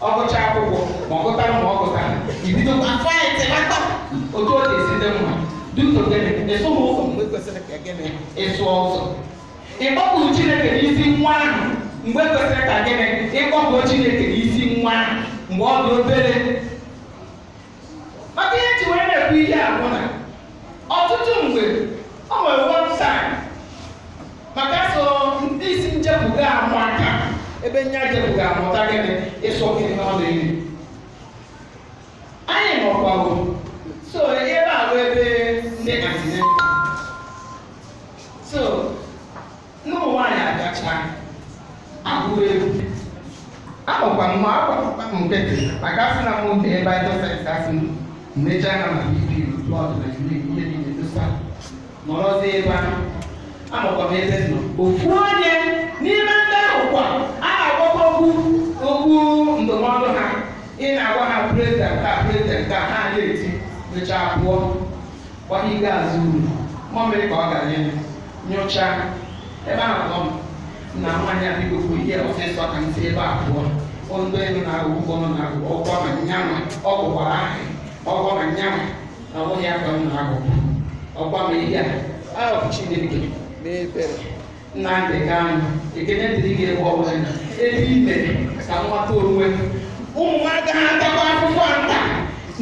ọ gụcha akwụkwọ ma ọ gụtara ma ọ gụtara ibidokwa afọ ya telata otu ọ ga-esi dị mma duto gịnị ịsụ ha ụzọ mgbe kwesịrị ka gịnị ịsụ ụzọ ịkpọkuru chineke n'isi nwa ahụ mgbe kwesịrị ka gịnị ịkpọkuru chineke n'isi nwa ahụ mgbe ọ dị obere maka ihe m ji wee na-ekwu ihe a bụ na ọtụtụ mgbe ọ nwere one time maka so ndị isi njepụga ụmụaka ebe nya jepụga amụta gịnị ịsụ gị n'ọdụ enyi anyị nọkwago so ebe a bụ ebe ndị antenatal N'ụmụ nwaanyị agacha agụ egwu akpọkwa m ma agbakwa m nkịtị maka asị na mụ nke ebe aja sayensị a sị m mecha anya ma ibi blọd na ihe ihe niile dosa nọrọzi ebe ahụ anọkwa m ebe nọ ofu onye n'ime ndị ahụ kwa a na-agwakwa okwu okwu ndụmọdụ ha ị na-agwa ha prezident a prezident a ha na-eti mechaa pụọ gwa gị gaa azụ uru mmamịrị ka ọ gara elu nyochaa ebe ahụ nọ m na nwaanyị a bido kwu ihe ọsịsọ ka m si ebe a pụọ ondo elu na agụ ụgbọ na agụ ọgwọ ma nyanwa ọ bụkwara ahụ ọgwọ ma nyanwa na ọ bụghị aka m na agụ ọgwa ma ihe a ahụ chineke n'ebere nnamdị kanụ ekene dịrị gị ebe ọ bụ na ebe i mere ka nwata onwe m ụmụ m agaghị atakwa akwụkwọ nta